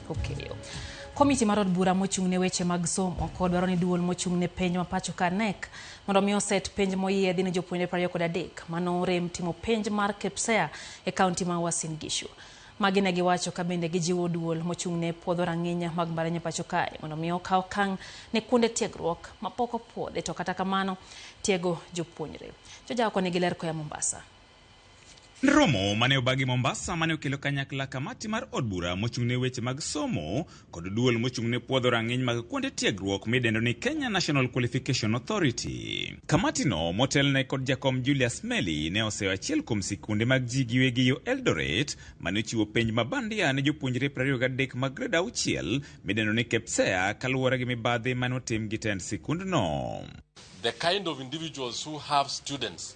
Okeyo. Komiti mar od bura mochung' ne weche mag somo ko dwaro ni duol mochung' ne penj ma pacho ka NEC mondo mi oset penj moyiedhi ne jopuonjre prariyo kod adek mano rem timo penj mar KPSEA e kaunti ma Uasin Gishu. Magi ne giwacho ka bende gijiwo duol mochung' ne puodho rang'inya mag mbalariany pacho kae mondo mi okaw kang' ne kuonde tiegruok mapok opuodhi to kata kamano tiego jopuonjre. Joja oko nigi ler koya Mombasa. Romo mane obagi Mombasa mane okelo kanyakla kamati mar od bura mochung'ne weche mag somo kod duol mochung'ne puodho rang'iny mag kuonde tiegruok midendo ni Kenya National Qualification Authority. Kamatino motelne kod jakom Julius Meli ne oseyo achiel kuom sikunde mag ji giwegi yo Eldoret mane ochiwo penj mabandia ne jopuonjre 23 mag grade auchiel midendo ni KPSEA kaluwore gi mibadhi mane otim gi tend sikundno. The kind of individuals who have students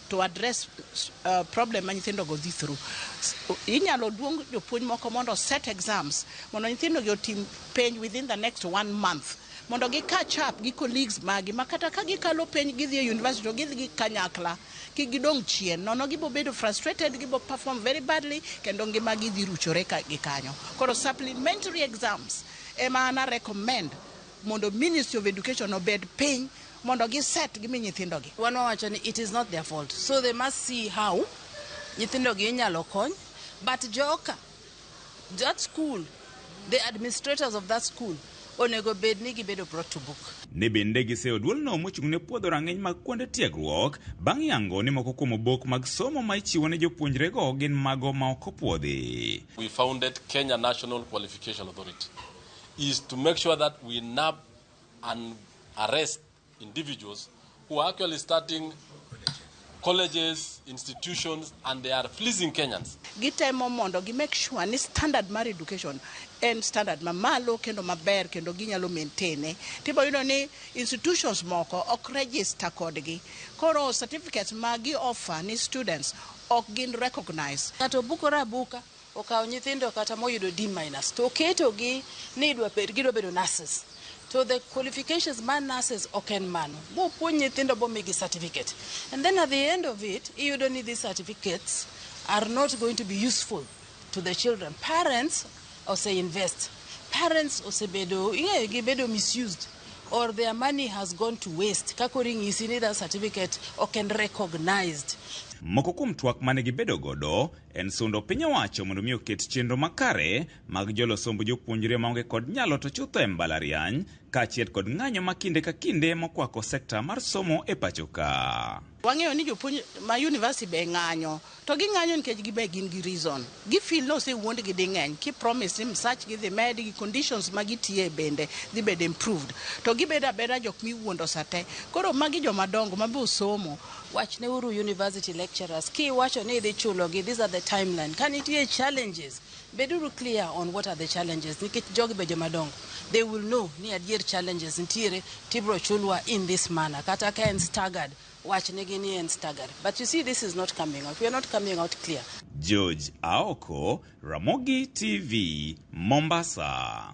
to address uh, problem ma nyithindo go dhi through. Inyalo luong jopuonj moko mondo set exams mondo nyithindo gi otim penj within the next one month mondo gi catch up gi colleagues magi ma kata ka gikalo penj gidhi e university to gidhi gi kanyakla ki gidong chien nono gibo bedo frustrated gibo perform very badly kendo ngima gidhi ruchore ka gi kanyo koro supplementary exams ema ana recommend mondo ministry of education obed piny mondo gi set gimi nyithindogi. Wan wawacho ni it is not their fault so they must see how nyithindogi inyalo kony but joka that school the administrators of that school onego bed ni gibedo brought to book. Ne bende giseyo duolno mochung' ne puodho rang'iny mag kuonde tiegruok bang' yango ni moko kuom obok mag somo ma ichiwo ne jopuonjrego gin mago ma ok opwodhi. We founded Kenya National Qualification Authority. is to make sure that we nab and arrest individuals who are actually starting colleges, institutions, and they are fleecing Kenyans. gitemo mondo gi make sure ni standard mar education en standard mamalo kendo maber kendo ginyalo maintaine tibo yudo ni institutions moko ok register kodgi koro certificates ma gi offer ni students ok gin recognized Ng'ato bukore abuka. Okawo nyithindo kata moyudo D minus to oketogi ni idwa bed gidwa bedo nurses. To the qualifications mar nurses ok en mano. Bopuonj nyithindo bomigi certificate. And then at the end of it, iyudo ni these certificates are not going to be useful to the children. Parents ose invest. Parents osebedo, ing'eyo gibedo misused or their money has gone to waste. Kakori ng'isi ni that certificate ok en recognized. Moko kuom twak mane gibedo godo En sundo piny owacho mondo mi oket chenro makare mag jolo somb jopuonjre maonge kod nyalo to chutho e mbalariany, kaachiel kod ng'anyo ma kinde ka kinde mokwako sekta mar somo e pacho ka. Wang'eyo ni jopuonj ma university be ng'anyo, to ging'anyo nikech gibe gin gi reason. Gi feel ni osewuond gi ding'eny, ki promise ni msach gi dhi med, gi conditions ma gitiye bende dhi bedo improved. To gibedo abeda jok miwuondo sa te. Koro magi joma dongo ma be osomo. Wachneuru university lecturers kiwacho ni idhi chulogi, these are the timeline. Ka nitie challenges, beduru clear on what are the challenges nikech jogi be joma dongo. They will know ni adier challenges nitiere tibro chulwa in this manner. Kata ka en staggered, wachnegi ni en staggered. But you see this is not coming out. We are not coming out clear. George Aoko, Ramogi TV, Mombasa.